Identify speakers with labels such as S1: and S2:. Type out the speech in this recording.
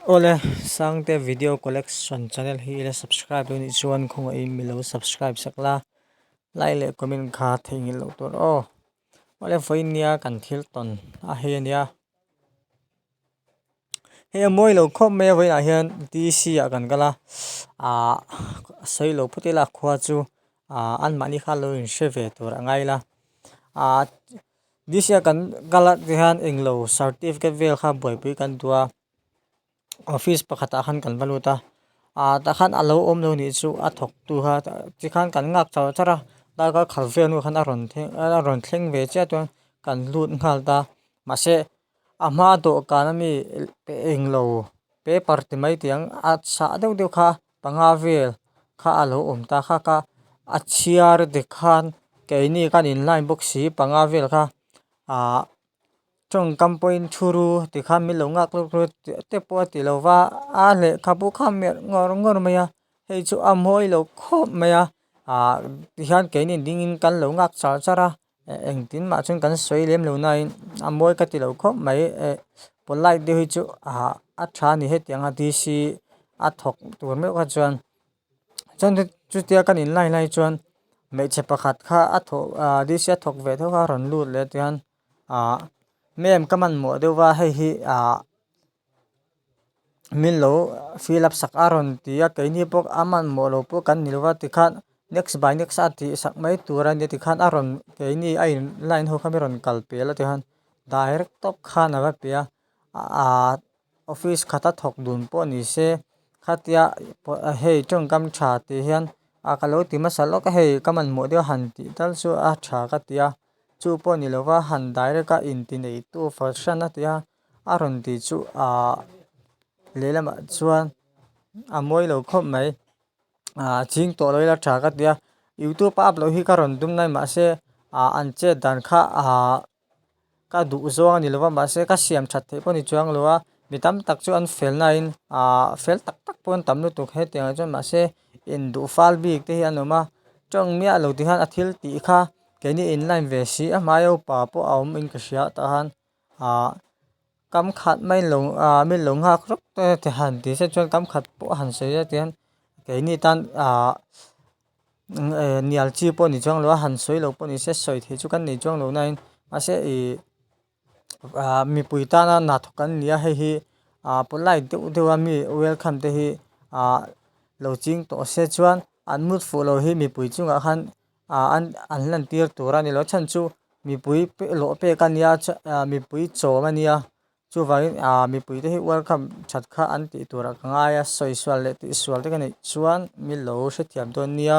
S1: Awle sangte video collection channel hi ila subscribe lo nih chuan khawngah in milo subscribe sak la like leh comment kha thei ngil lo tur aw awle fawi nia kan thil ton a hei ania hei a mawi lo khawp mai a vawiin ah hian dc ah kan kal a ah a sawi lo phuti la khua chu ah anmahni kha lo inhre ve tur a ngai la ah-- This year kan kal a ti hian englo certificate vel kha buaipui kan duh a office pakhatah khan kan va lut a ah tah khan a lo awm lo nih chu a thawk tu kha chi khan kan nghak char char a darkar khalh vel nu khan a rawn thlen a rawn thleng ve chiah chuan kan lut nghal ta mahse a hma dawhkan ami englo paper ti mai tiang a chhah deuh deuh kha. Panga vel kha a lo awm ta kha ka a chhiar dik khan keini kan in line bawk si panga vel kha ah tawngkam pawhin thuru tikha min lo nghak hluk hluk tih te pawh a ti lo va a lehkha bu kha merh ngawr ngawr mai a hei chu a mawi lo khawp mai a ah tihian keini dingin kan lo nghak char char a. Engtin mah chuan kan sawi lem lo nain a mawi ka ti lo khawp mai e. Polite deuh hi chu ah a tha a ni hetiang a DC a thawk tur meuh kha chuan chuan chutia kan in line lai chuan hmeichhe pakhat kha a thaw ah DC a thawk ve thung a rawn lut leh a tichuan ah ma'am ka manmawh deuh va hei hi ah-- min lo fill up sak a rawn ti a keini pawh a manmawh loh pawh kan ni lo va tikhan next by next a tih sak mai tur a ni a tikhan a rawn keini a in line ho khan a rawn kal tel a tikhan direct tawp khan a va pe a aaa office khata thawk dun pawh ni se khatia hei tawng kam tha tih hian a ka lo ti hmasa lawk a hei ka manmawh deuh a han tih tal chu a tha ka ti a chu pawh ni lo va han direct a inti nei tu fahran a ti a. A rawn ti chu ah lehlamah chuan a mawi lo khawp mai ah ching tawh lo ila tha ka tia youtube a up loh hi ka rawn tum nai mah se ah an chet dan kha ah ka duh zawng a ni lova mah se ka siam that theih pawh a ni chuang lo a mi tam tak chu an fel nai in ah fel tak tak pawh an tam lutuk hetiang ah chuan mah se in duh fal bik te hi an awm a tawng miah lo ti khan a thil tih kha keini in line ve si a hmai aupa pawh a awm in ka hria tah han. ah kam khat mai lo ah min lo nghak rawk e ti han ti se chuan kam khat pawh a han sawi a tian keini tan ah eh nial chi pawh a ni chuang lo a han sawi lo pawh a ni se sawi theih chu kan nei chuang lo nain mahse ih ah mipui tana na thawk an ni a hei hi ah polite deuh deuh a mi welcome te hi ah lo ching tawh se chuan an mut fuh lo hi mipui chungah khan-- ah an an lantir tur a ni lo chhan chu mipui pek lawh pek a nia chha ah mipui chawm a nia chuvangin ah mipui te hi welcome that kha an tih tur ah ka ngai a sawi sual leh tih sual te ka neih chuan milo hrethiam dawn nia.